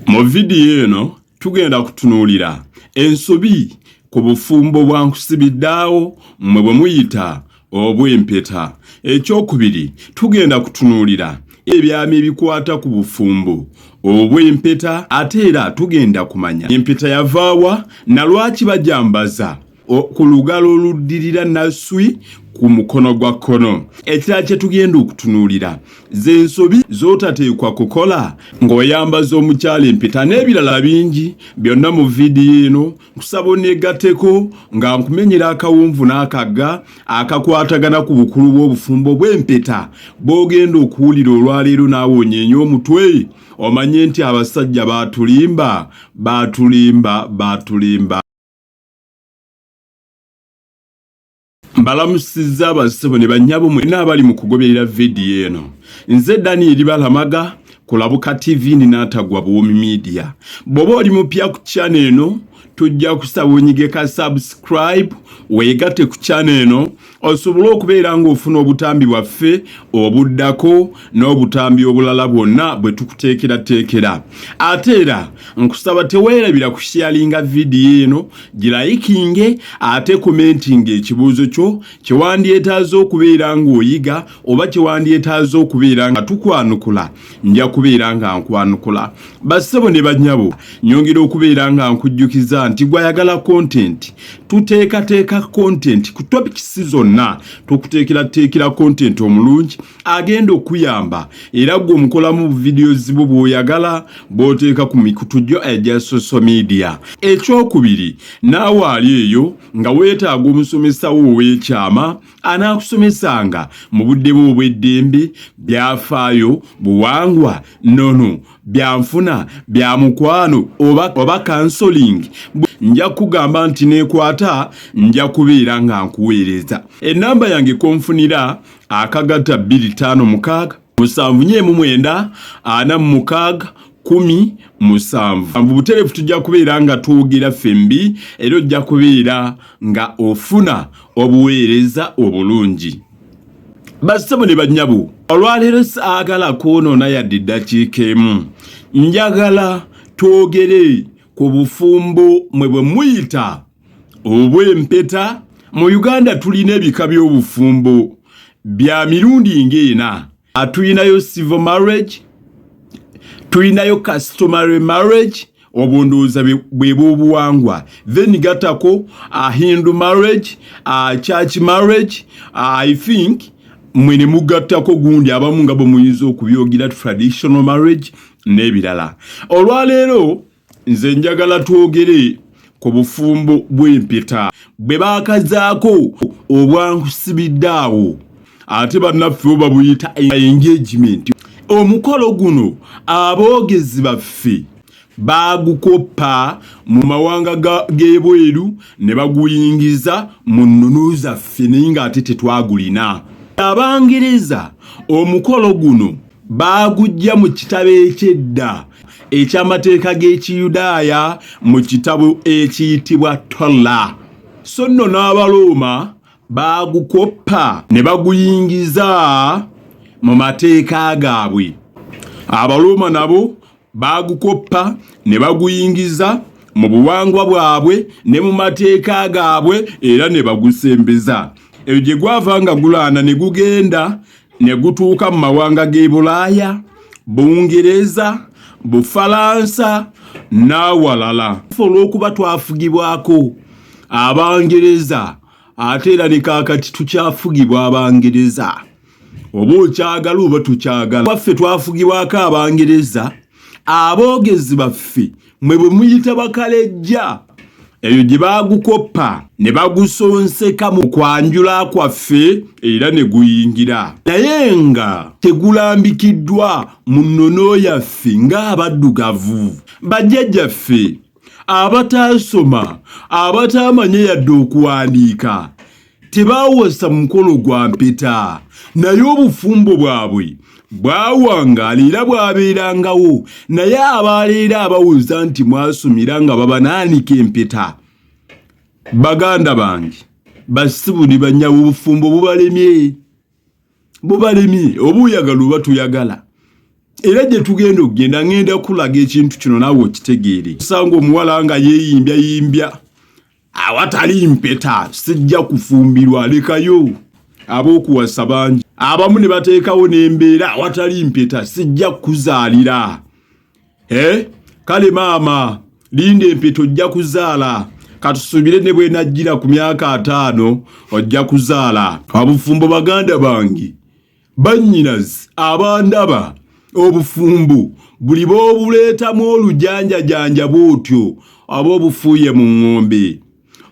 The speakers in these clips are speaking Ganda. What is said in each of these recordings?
Mu vidiyo eno tugenda kutunuulira ensobi ku bufumbo bwa nkusibiddaawo mmwe bwe muyita obw'empeta. Ekyokubiri tugenda kutunuulira ebyama ebikwata ku bufumbo obw'empeta ate era tugenda kumanya empeta yavaawa na lwaki bajambaza ku lugalo oluddirira naswi ku mukono gwa kkono ekirala kye tugenda okutunuulira z'ensobi z'otateekwa kukola ng'oyambaza omukyala empeta n'ebirala bingi byonna mu vidiyo eno nkusaba oneegatteko nga nkumenyera akawunvu n'akagga akakwatagana ku bukulu bw'obufumbo bw'empeta bw'ogenda okuwulira olwaleero naawe onyeenye omutwe omanye nti abasajja baatulimba baatulimba baatulimba mbalamusizza abasebo ne bannyabo mwena abali mu kugoberera vidiyo eno nze danieli balamaga kulabuka tv ninaatagwa buwomi midiya bw'oba oli mupya ku kyana eno tujja kusaba onyigeka subscribe weegate ku kyana eno osobole okubeera ng'ofuna obutambi bwaffe obuddako n'obutambi obulala bwonna bwe tukuteekerateekera ate era nkusaba teweerabira ku sharinga vidiyo eno girayikinge ate komentinga ekibuuzo kyo kye wandyetaaza okubeera ng'oyiga oba kye wandyetaaza okubeera nga tukwanukula nja kubeera nga nkwanukula bassebo ne banyabo nyongera okubeera nga nkujjukiza nti gwayagala kontenti tuteekateeka kontenti ku topikisi zonna tukuteekerateekera kontenti omulungi agenda okuyamba era gwe omukolamu buvidiyo zibo bwoyagala bwoteeka ku mikutu gyo egya social media ekyokubiri naawe ali eyo nga weetaaga omusomesawo ow'ekyama anaakusomesanga mu budde bwe obw'eddembe byafaayo buwangwa nono byanfuna bya mukwano oba, oba kansoling nja kugamba nti nekwata nja kubeera nga nkuweereza enamba yange konfunira akagata 25 musanvu nyo emu mwenda ana mumukaaga kumi musanvu buterefu tujja kubeera nga twogera ffembi era ojja kubeera nga ofuna obuweereza obulungi bassebo ne banyabo olwaleero saagala kwonoona yadde eddakiika emu njagala twogere ku bufumbo mwe bwe muyita obw'empeta. Mu Uganda tulina ebika by'obufumbo bya mirundi ng'ena. Tulinayo civil marriage, tulinayo customary marriage, obwo ndowooza bwe b'obuwangwa. Then gattako a Hindu marriage, a church marriage, I think mwe ne mugattako gundi abamu nga bwe muyinza okubyogera traditional marriage n'ebirala. Olwaleero. nze njagala twogere ku bufumbo bw'empeta bwe baakazaako obwansibidde awo ate bannaffe bo babuyita engagement omukolo guno aboogezi baffe baagukoppa mu mawanga g'ebweru ne baguyingiza mu nnunu zaffe naye ng'ate tetwagulina abangereza omukolo guno Baagujja mu kitabo eky'edda eky'amateeka g'Ekiyudaaya mu kitabo ekiyitibwa Tola, so nno n'Abarooma baagukoppa ne baguyingiza mu mateeka gaabwe. Abarooma nabo baagukoppa ne baguyingiza mu buwangwa bwabwe ne mu mateeka gaabwe era ne bagusembeza eyo gye gwava nga gulaana ne gugenda ne gutuuka mu mawanga g'e bulaaya bungereza bufalansa n'awalala olw'okuba twafugibwako abangereza ate era ne kaakati tukyafugibwa abangereza oba okyagala oba tukyagala baffe twafugibwako abangereza aboogezi baffe mwe bwe muyita bakalejja eyo gye baagukoppa ne bagusonseka mu kwanjula kwaffe era ne guyingira naye nga tegulambikiddwa mu nnono yaffe ng'abaddugavu bajjajjaffe abataasoma abataamanye yadde okuwandiika tebaawasa mukolo gwa mpeta naye obufumbo bwabwe bwawangaala era bwabeerangawo naye abaaleero abawuza nti mwasumira nga babanaanika empeta baganda bange basibu ne banyawo obufumbo bubalemye bubalemye oba oyagala oba toyagala era gye tugenda okugenda ngenda kulaga ekintu kino naawe okitegeere osanga omuwala nga yeeyimbya yimbya awatali mpeta sijja kufumbirwa lekayo ab'okuwasa bangi abamu ne bateekawo n'embeera awatali mpeta sijja kukuzaalira eh? kale maama linda empeta ojja kuzaala katusuubire ne bwenajjira ku myaka ataano ojja kuzaala abufumbo baganda bange Bannyinazi abandaba obufumbo buli b'obuleetamu olujanjajanja bw'otyo aba obufuuye mu ŋŋombe.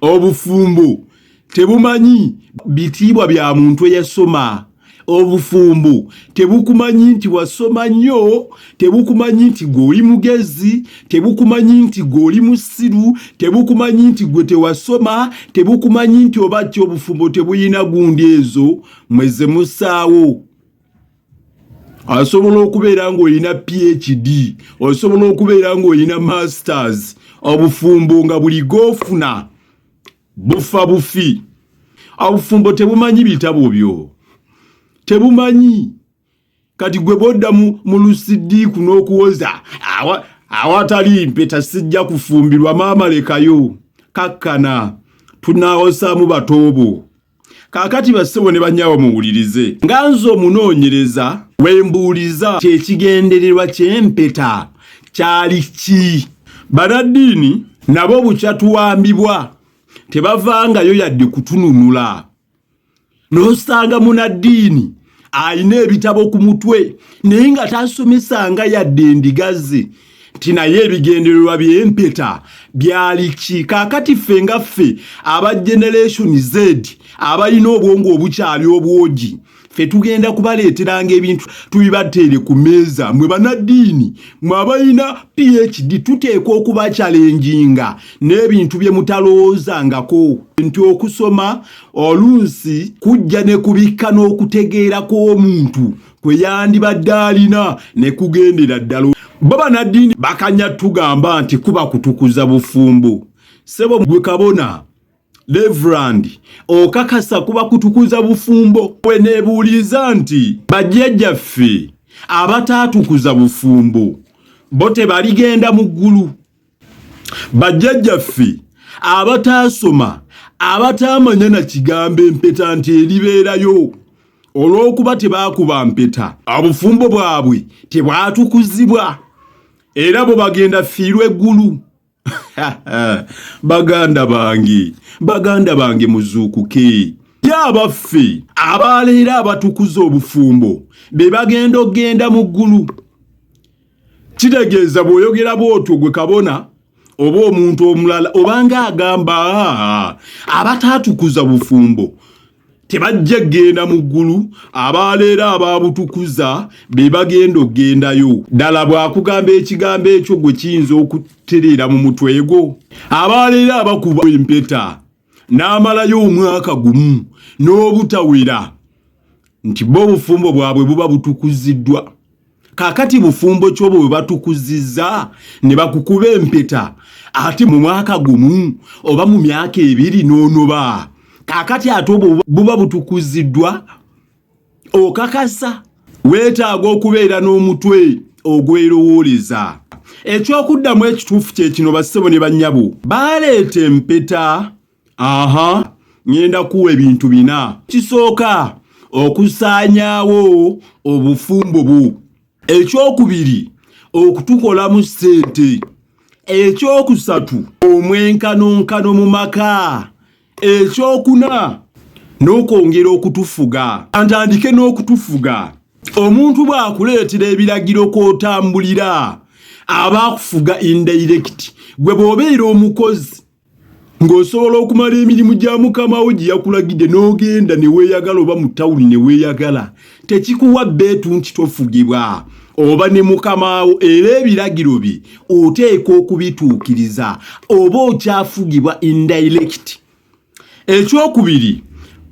Obufumbo tebumanyi bitiibwa bya muntu eyasoma. Obufumbo tebukumanyi nti wasoma nnyo, tebukumanyi nti gwe oli mugezi, tebukumanyi nti gwe oli musiru, tebukumanyi nti gwe tewasoma, tebukumanyi nti oba ki obufumbo tebulina gundi ezo mweze musaawo osobola okubeera ng'olina phd osobola okubeera ng'olina masters obufumbo nga buli gofuna bufa bufi obufumbo tebumanyi bitabo byo tebumanyi kati gwe bodda mu lusidiiku n'okuwoza awatali mpeta sijja kufumbirwa maama lekayo kakkana tunaawosaamu batoobo kaakati bassebo ne banyabo muwulirize nga nze omunoonyereza wembuuliza kyekigendererwa kyempeta kyali ki banaddiini nabo bukyatuwambibwa tebavangayo yadde kutununula n'osanga munaddiini alina ebitabo ku mutwe naye nga tasomesanga yadde endigazi nti naye ebigendererwa byempeta byali ki kakati ffe nga ffe aba generation z abalina obwongo obukyali obwogi fe tugenda kubaleeteranga ebintu tubibateere ku meeza mwe banaddiini mwe abalina phd tuteekwa okubakyalenjinga n'ebintu bye mutalowoozangako nti okusoma oluusi kujja ne kubikka n'okutegeera kw'omuntu kwe yandibadde alina ne kugendera ddala bo banaddiini bakanya tugamba nti kuba kutukuza bufumbo sebo gwe kabona Reverand okakasa kuba kutukuza bufumbo we nebuuliza nti bajjajjaffe abataatukuza bufumbo bo tebaligenda mu ggulu bajjajjaffe abataasoma abataamanya na kigambo empeta nti eribeerayo olw'okuba tebaakuba mpeta obufumbo bwabwe tebwatukuzibwa era bwe bagenda fiirwa eggulu baganda bange baganda bange muzuukuke ye abaffe abaleero abatukuza obufumbo be bagenda okugenda mu ggulu kitegeeza bw'oyogera bw'otyo gwe kabona oba omuntu omulala obanga agamba abataatukuza bufumbo tebajja kugenda mu ggulu abaaleero abaabutukuza be bagenda okugendayo ddala bw'akugamba ekigambo ekyo gwe kiyinza okutereera mu mutwe gwo abaaleero abakuba empeta n'amalayo omwaka gumu n'obutawera nti bo obufumbo bwabwe buba butukuziddwa kakati bufumbo kyobo bwe batukuziza ne bakukuba empeta ate mu mwaka gumu oba mu myaka ebiri n'onoba kakati ate obwo buba butukuziddwa okakasa weetaaga okubeera n'omutwe ogwerowooleza ekyokuddamu ekituufu kye kino bassebo ne bannyabo baleeta empeta aha ngenda kuwa ebintu bina kisooka okusaanyaawo obufumbo bwo ekyokubiri okutukolamu ssente ekyokusatu omwenkanonkano mu maka ekyokuna n'okwongera okutufuga antandike n'okutufuga omuntu bw'akuleetera ebiragiro kw'otambulira aba akufuga indirekiti gwe bw'obeera omukozi ng'osobola okumala emirimu gya mukama wo gye yakulagidde n'ogenda ne weeyagala oba mu tawuni ne weeyagala tekikuwa bbeetu nti tofugibwa oba ne mukama wo era ebiragiro bye oteeka okubituukiriza oba okyafugibwa indirect ekyokubiri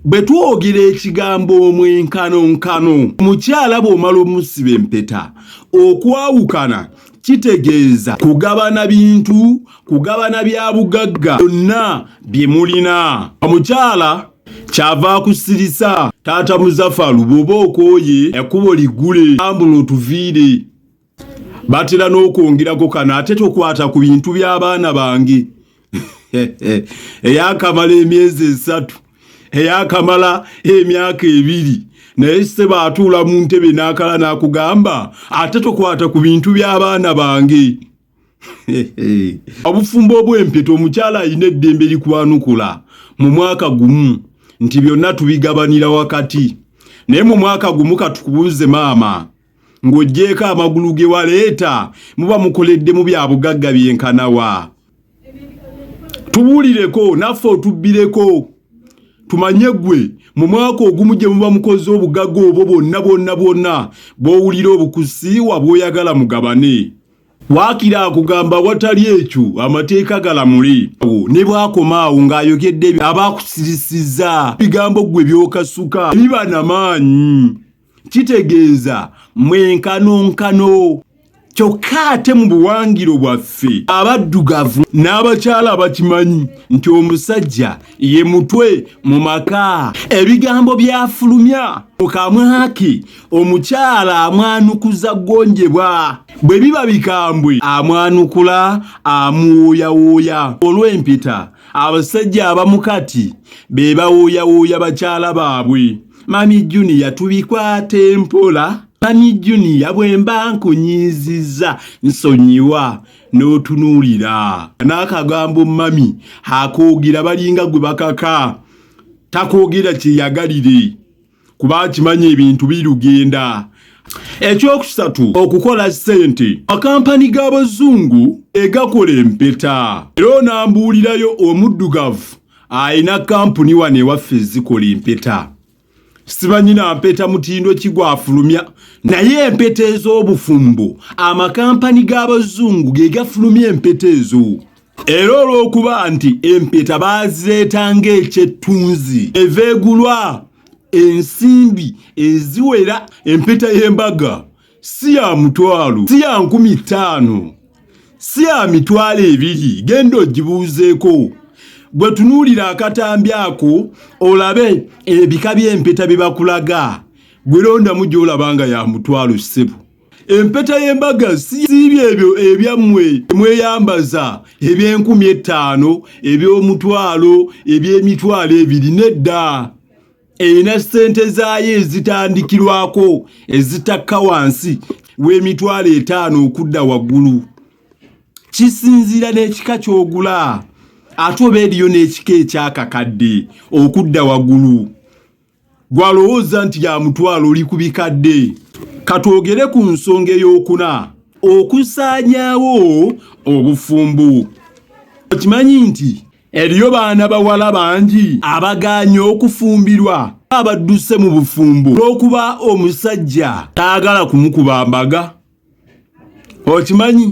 bwe twogera ekigambo omwenkanonkano omukyala bw'omala omusiba empeta okwawukana kitegeeza kugabana bintu kugabana bya bugagga byonna bye mulina omukyala kyava akusirisa taata muzafalu bwoba okooye ekkubo ligule ambula otuviire batera n'okwongerako kano ate tokwata ku bintu by'abaana bange eyakamala emyezi esatu eyakamala emyaka ebiri naye se baatuula mu ntebe n'akala n'akugamba ate tokwata ku bintu by'abaana bange obufumbo obw'empeta omukyala alina eddembe likwanukula mu mwaka gumu nti byonna tubigabanira wakati naye mu mwaka gumu katukubuuze maama ng'oggyeeko amagulu ge waleeta muba mukoledde mu bya bugagga byenkanawa tubuulireko naffe otubbireko tumanye gwe mu mwaka ogumu gye muba mukoze obugagga obwo bwonna bwonna bwonna bw'owulira obukusiiwa bw'oyagala mugabane waakira akugamba watali ekyo amateeka galamule ne bwakoma awo ng'ayogedde abaakusirisizza bigambo ggwe byokasuka biba na maanyi kitegeeza mwenkanonkano kyokka ate mu buwangiro bwaffe abaddugavu n'abakyala abakimanyi nti omusajja ye mutwe mu maka ebigambo byafulumya mu kamwake omukyala amwanukuza gonjebwa bwe biba bikambwe amwanukula amuwuuyawuuya olw'empeta abasajja abamu kati be bawuuyawuuya bakyala baabwe mami junior tubikwate mpola mami junior bwemba nkunyiiziza nsonyiwa n'otunuulira n'akagambo mami akoogira balinga gwe bakaka takoogera kyeyagalire kuba akimanyi ebintu birugenda ekyokusatu okukola ssente makampani g'abazungu egakola empeta era onambuulirayo omuddugavu alina kampuni wano ewaffe ezikola empeta sibanyina mpeta mutindo kigwafulumya naye empeta ez'obufumbo amakampani g'abazungu ge gafulumya empeta ezo era olw'okuba nti empeta baazireeta ng'ekyettunzi eva egulwa ensimbi eziwera empeta y'embaga si ya mutwalo si ya nkumi ttaano si ya mitwalo ebiri genda ogibuuzeeko gwe tunuulira akatambi ako olabe ebika by'empeta bye bakulaga gwe londamu gy'olaba nga ya mutwalo ssebo empeta y'embaga siibyo ebyo ebyammwe mweyambaza eby'enkumi ettaano eby'omutwalo eby'emitwalo ebiri nedda erina ssente zaayo ezitandikirwako ezitakka wansi w'emitwalo etaano okudda waggulu kisinziira n'ekika ky'ogula ate oba eriyo n'ekika ekyakakadde okudda waggulu gwalowooza nti ya mutwalo oli ku bikadde katwogere ku nsonga ey'okuna okusaanyaawo obufumbo okimanyi nti Eriyo baana bawala bangi abagaanye okufumbirwa abadduse mu bufumbo olw'okuba omusajja taagala kumukuba mbaga okimanyi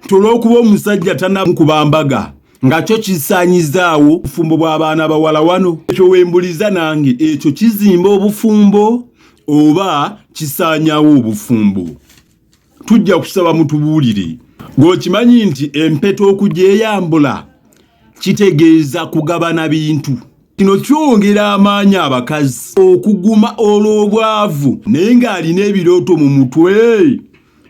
nti olw'okuba omusajja tanamukuba mbaga nga kyo kisaanyizaawo obufumbo bw'abaana bawala wano ekyo wembuliza nange ekyo kizimba obufumbo oba kisaanyawo obufumbo tujja kusaba mutubuulire gweokimanyi nti empeta okugyeyambula kitegeeza kugabana bintu kino kyongera amaanyi abakazi okuguma olw'obwavu naye ng'alina ebirooto mu mutwe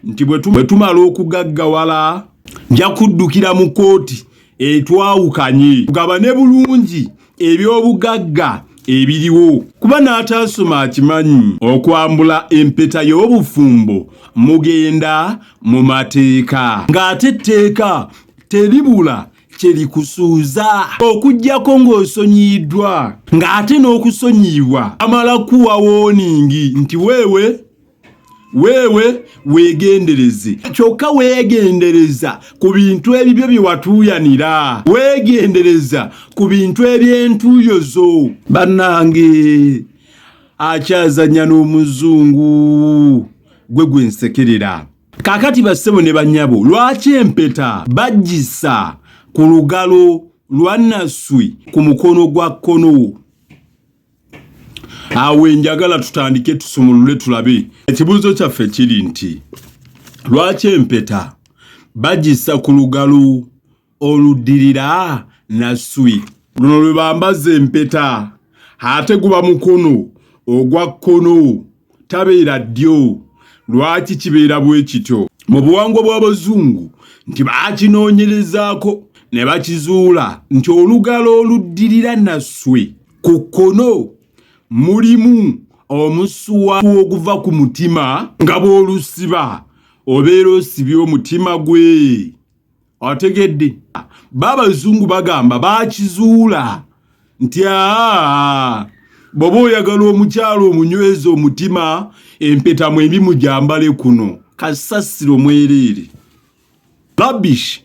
nti bwe tumala okugaggawala nja kuddukira mu kooti etwawukanye tugabane bulungi eby'obugagga ebiriwo kuba n'ataasoma akimanyi okwambula empeta y'obufumbo mugenda mu mateeka ng'ate etteeka teribula kye likusuuza okugyako ng'osonyiyiddwa ng'ate n'okusonyiyibwa amala kuwa wooningi nti weewe weewe weegendereze kyokka weegendereza ku bintu ebibyo bye watuuyanira weegendereza ku bintu eby'entuuyo zo bannange akyazannya n'omuzungu gwe gwe nsekerera kaakati bassebo ne bannyabo lwaki empeta bajjisa ku lugalo lwa nasswi ku mukono gwa kkono awo enjagala tutandike tusumulule tulabe ekibuuzo kyaffe kiri nti lwaki empeta bagissa ku lugalu oluddirira naswi luno lwe bambaza empeta ate guba mukono ogwa kkono tabeera ddyo lwaki kibeera bwe kityo mu buwangwa bw'abazungu nti baakinoonyerezaako ne bakizuula nti olugalo oluddirira naswe ku kkono mulimu omusuwa oguva ku mutima nga bw'olusiba obeera osibye omutima gwe otegedde ba abazungu bagamba bakizuula nti aa bw'oba oyagala omukyalo omunyweza omutima empeta mu emimu gyambale kuno kasasiro mwereere labish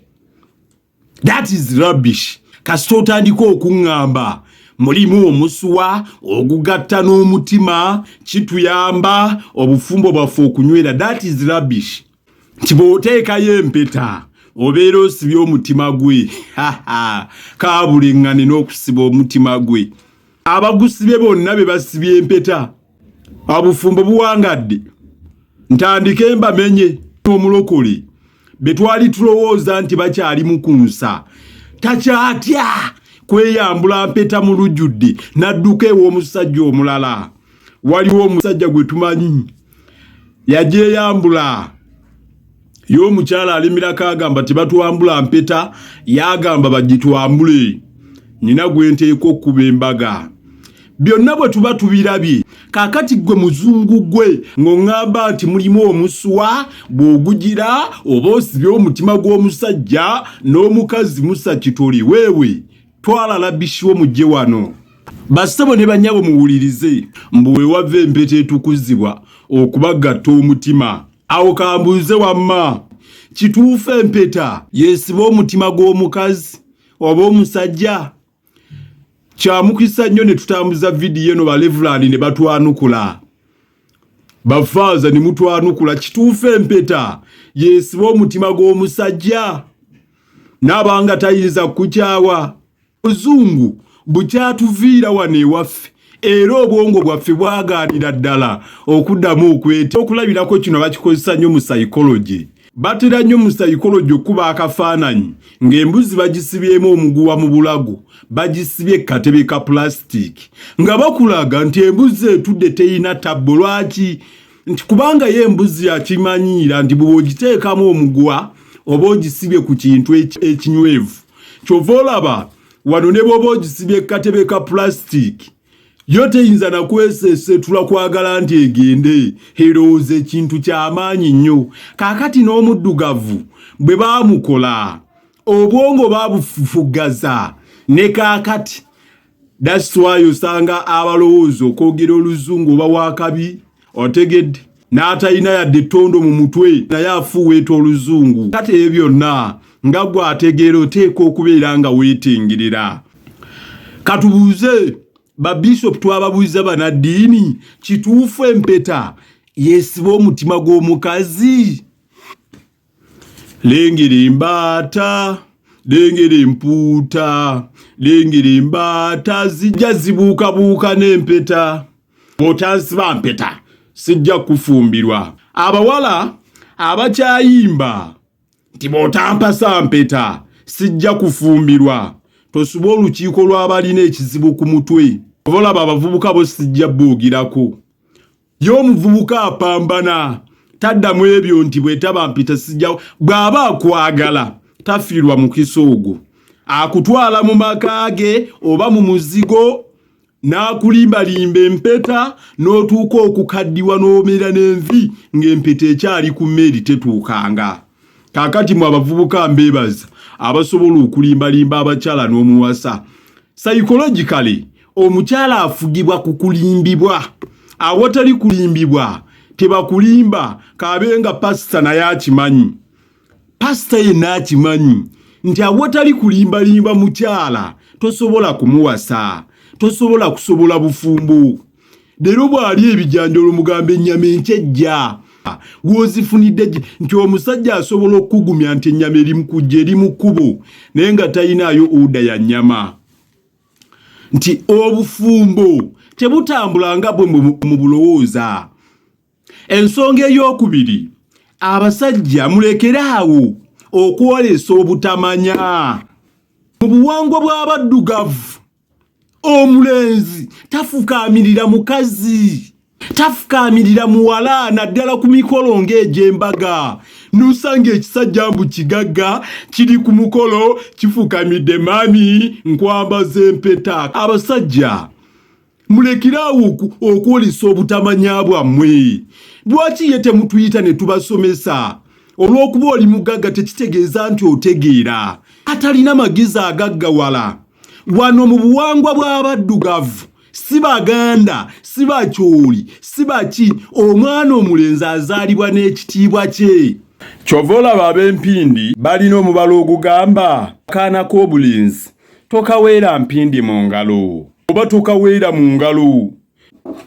that is rubbish kasita otandika okuŋŋamba mulimu omusuwa ogugatta n'omutima kituyamba obufumbo bwaffe okunywera that is rubbish nti bw'oteekayo empeta obeera osibye omutima gwe kaabulengane n'okusiba omutima gwe abagusibye bonna be basibye empeta abufumbo buwangadde ntandike mbamenye omulokole betwali tulowooza nti bakyali mukunsa takyatya kweyambula mpeta mu lujjudde n'adduka ew'omusajja omulala waliwo omusajja gwe tumanyi yajeyambula ye omukyala alimirako agamba tebatwambula mpeta yagamba bagitwambule nina gwenteeka okuba embaga byonna bwe tuba tubirabye kakati gwe muzungu gwe ng'oŋŋamba nti mulimu omuswa bw'ogugira oba osibye omutima gw'omusajja n'omukazi musa kitoli weewe twala labishiwo mujje wano bassebo ne banyabo muwulirize mbu wewava empeta etukuzibwa okubagatta omutima awo kambuuze wamma kituufu empeta yesiba omutima gw'omukazi oba omusajja kyamukisa nnyo ne tutambuza vidiyo eno balevulani ne batwanukula bafaaza ne mutwanukula kituufu empeta yesiba omutima gw'omusajja naabanga tayinza kukukyawa obuzungu bukyatuviira wano ewaffe era obwongo bwaffe bwagaanira ddala okuddamu okweta okulabirako kino bakikozesa nnyo mu psychology batera nnyo mu psychology okukuba akafaananyi ng'embuzi bagisibyemu omuguwa mu bulago bagisibye katebe ka plastic nga bakulaga nti embuzi etudde terina tabbo lwaki nti kubanga ye embuzi yakimanyiira nti bwe ogiteekamu omuguwa oba ogisibye ku kintu ekinywevu kyova olaba wano ne bwoba ogisibye katebe ka pulasitiki yo teyinza nakwesesetula kwagala nti egende erowooza ekintu kyamaanyi nnyo kakati n'omuddugavu bwe bamukola obwongo babufufugaza ne kakati That's why usanga abalowooza okwogera oluzungu oba wakabi otegedde n'atalina yadde ettondo mu mutwe naye afuuweeta oluzungu kati ebyo byonna nga gwe ategeera oteeka okubeera nga weetengerera katubuuze babishopu twababuuza banaddiini kituufu empeta yesiba omutima gw'omukazi Lingiri mbaata lingiri mpuuta lingiri mbaata zijja zibuukabuuka n'empeta bw'otansiba mpeta sijja kufumbirwa abawala abakyayimba nti bw'otampasa mpeta sijja kufumbirwa tosuba olukiiko lw'abalina ekizibu ku mutwe oba olaba abavubuka bo sijja buugirako ye omuvubuka apambana taddamu ebyo nti bwetaba mpita sijjawo bw'aba akwagala tafiirwa mukisa ogwo akutwala mu maka ge oba mu muzigo n'akulimbalimba empeta n'otuuka okukaddiwa n'omera n'envi ng'empeta ekyali ku mmeeri tetuukanga kaakati mu abavubuka mbeebaza abasobola okulimbalimba abakyala n'omuwasa sayikologikale omukyala afugibwa ku kulimbibwa awatali kulimbibwa tebakulimba kaabe nga pasita naye akimanyi pasita yenna akimanyi nti awatali kulimbalimba mukyala tosobola kumuwasa tosobola kusobola bufumbo leero bw'ali ebijanjalo mugamba ennyama enkyejja gwozifunidde nti omusajja asobola okukugumya nti ennyama eri mukujja eri mu kkubo naye nga talinaayo oda ya nnyama nti obufumbo tebutambula nga bwe mu bulowooza ensonga ey'okubiri abasajja mulekere awo okwolesa obutamanya mu buwangwa bw'abaddugavu omulenzi tafukaamirira mukazi tafukaamirira muwala naddala ku mikolo ng'egy'embaga n'osanga ekisajja mbu kigagga kiri ku mukolo kifukamidde mami nkwambaza empeta abasajja mulekiraawo okwolesa obutamanya bwammwe lwaki ye temutuyita ne tubasomesa olw'okuba oli mugagga tekitegeeza nti otegeera atalina magezi agaggawala wano mu buwangwa bw'abaddugavu si baganda si bakyoli si baki omwana omulenzi azaalibwa n'ekitiibwa kye kyova olaba ab'empindi balina omubala ogugamba kaana k'obulenzi tokaweera mpindi mu ngalo oba tokaweera mu ngalo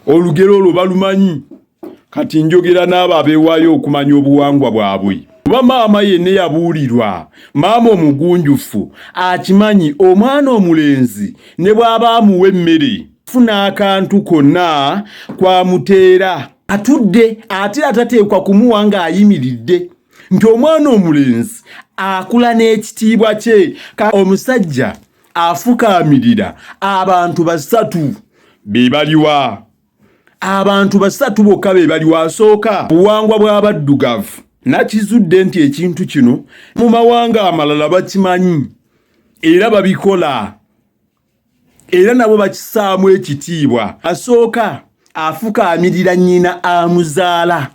olugero olwo balumanyi kati njogera n'abo abeewaayo okumanya obuwangwa bwabwe kuba maama yenna yabuulirwa maama omugunjufu akimanyi omwana omulenzi ne bw'aba amuwa emmere funa akantu konna kwamuteera atudde ate atateekwa kumuwa ng'ayimiridde nti omwana omulenzi akula n'ekitiibwa kye omusajja afukaamirira abantu basatu be baliwa abantu basatu bokka be bali wasooka buwangwa bw'abaddugavu nakizudde nti ekintu kino mu mawanga amalala bakimanyi era babikola era nabo bakisaamu ekitiibwa asooka afukaamirira nnyina amuzaala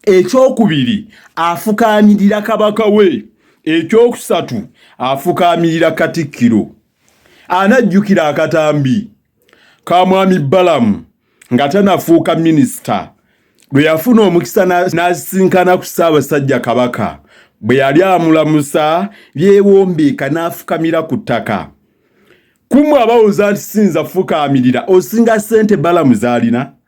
ekyokubiri afukaamirira kabaka we ekyokusatu afukaamirira katikkiro anajjukira akatambi ka mwami Balamu nga tanafuuka minisita lwe yafuna omukisa n'asisinkana ku Ssaabasajja Kabaka bwe yali amulamusa byewombeeka n'afukamira ku ttaka kumwe abawuza nti siyinza fukaamirira osinga ssente Balamu z'alina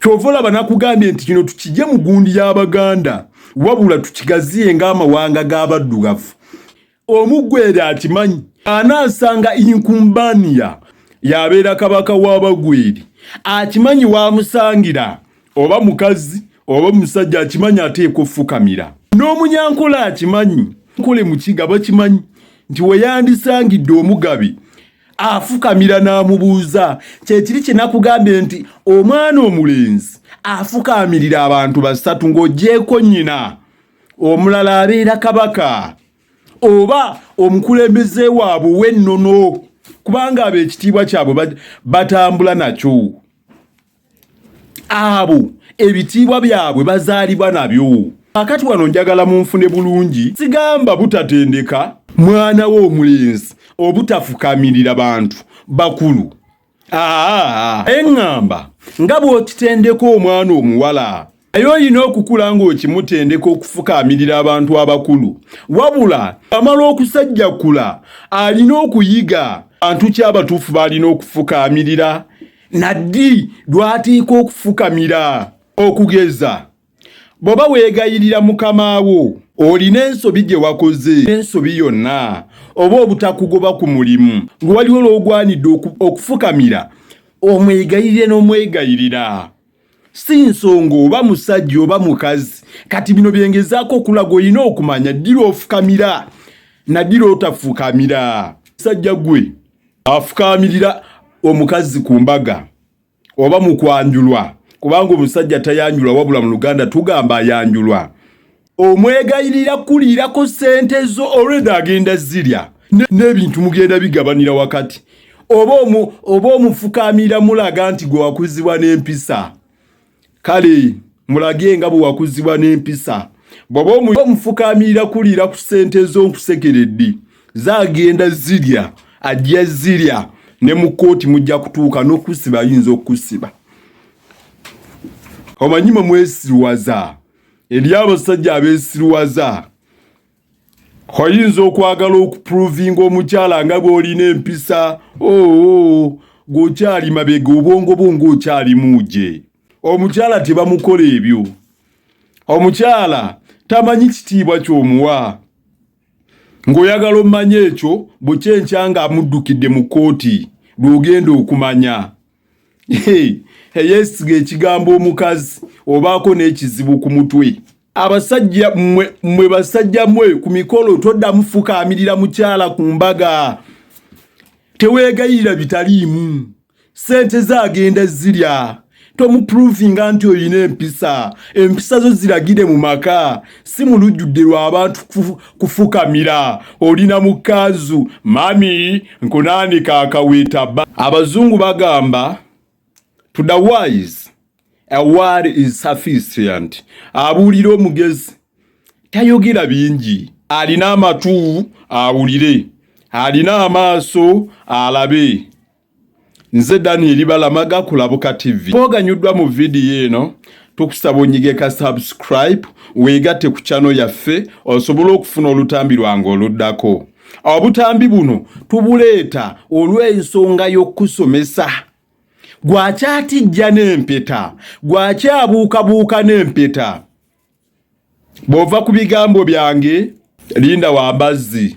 kyova olaba nakugambye nti kino tukije mu gundi y'abaganda wabula tukigaziye ng'amawanga g'abaddugavu omugwere akimanyi anaasanga inkumbaniya yabeera kabaka w'abagweri akimanyi wamusangira oba mukazi oba omusajja akimanyi ateeka ofukamira n'omunyankola akimanyi nkole mukiga bakimanyi nti weyandisangidde omugabi afukamira n'amubuuza kyekiri kye nakugambye nti omwana omulenzi afukamirira abantu basatu ng'ogyeko nnyina omulala abeera kabaka oba omukulembeze waabwe w'ennono kubanga abo ekitiibwa kyabwe batambula nakyo abo ebitiibwa byabwe bazaalibwa nabyo akati wano njagala munfune bulungi sigamba butatendeka mwana we omulenzi obutafukamirira bantu bakulu aa eŋŋamba nga bw'okitendeka omwana omuwala naye olina okukula ng'okimutendeka okufukaamirira abantu abakulu wabula amala okusajjakula alina okuyiga bantu ki abatuufu baalina okufukaamirira naddi lwatiika okufukamira okugeza bw'oba weegayirira mukama wo olina ensobi gye wakoze ensobi yonna oba obutakugoba ku mulimu ng'waliwo lw'ogwanidde okufukamira omwegayirire n'omwegayirira si nsonga oba musajja oba mukazi kati bino byengezaako okulaga olina okumanya ddira ofukamira naddira otafukamira sajja gwe afukamirira omukazi ku mbaga oba mu kwanjulwa kubanga omusajja tayanjulwa wabula mu luganda tugamba ayanjulwa omwegayirira kuliirako ssente zo olweda agenda zirya n'ebintu mugenda bigabanira wakati oba omufukaamira mulaga nti gwe wakuzibwa n'empisa kale mulage nga bwe wakuzibwa n'empisa bwaba omufukaamira kuliira ku ssente zo nkusekeredde zagenda zirya ajja zirya ne mu kkooti mujja kutuuka n'okusiba ayinza okusiba omanyi mwe mwesiwaza eri abasajja abesirwaza oyinza okwagala okuprovinga omukyala nga bwolina empisa oo oh, oh, gwokyali mabega obwongo bwo ngaokyalimuuje omukyala tebamukola ebyo omukyala tamanyi kitiibwa kyomuwa ng'oyagala omumanya ekyo bwekyenkya nga amuddukidde mu kkooti lw'ogenda okumanya eyesiga ekigambo omukazi obaako n'ekizibu ku mutwe abasajja mwe mwe basajja mwe ku mikolo toddamu fukaamirira mukyala ku mbaga teweegayirira bitaliimu sente zaagenda zirya tomuprovinga nti olina empisa empisa zo ziragire mu maka si mu lujjudde lw'abantu kufukamira oli na mukanzu mami nkunaanika akaweta ba abazungu bagamba to the wise a word is sufficient abuulira omugezi tayogera bingi alina amatu awulire alina amaaso alabe Nze Daniel Balamaga kulabuka TV. Twoganyuddwa mu vidiyo eno tukusaba onyige ka subscribe weegatte ku channel yaffe osobole okufuna olutambi lwange oluddako. Obutambi buno tubuleeta olw'ensonga y'okukusomesa gwakyatijja n'empeta, gwakyabuukabuuka n'empeta. bw'ova ku bigambo byange linda wa mbazzi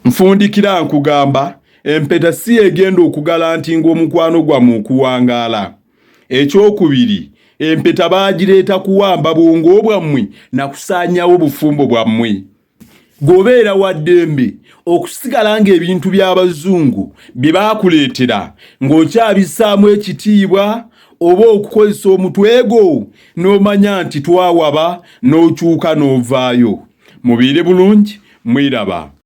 nfundikira nkugamba empeta si egenda okugala nti ng'omukwano gwamu okuwangaala ekyokubiri empeta baagireeta kuwamba bwongo bwammwe na kusaanyawo bufumbo bwammwe gwobeera wa ddembe okusigala ng'ebintu by'abazungu bye baakuleetera ng'okyabisaamu ekitiibwa oba okukozesa omutwe gwo n'omanya nti twawaba n'okyuka n'ovaayo mubeere bulungi mweraba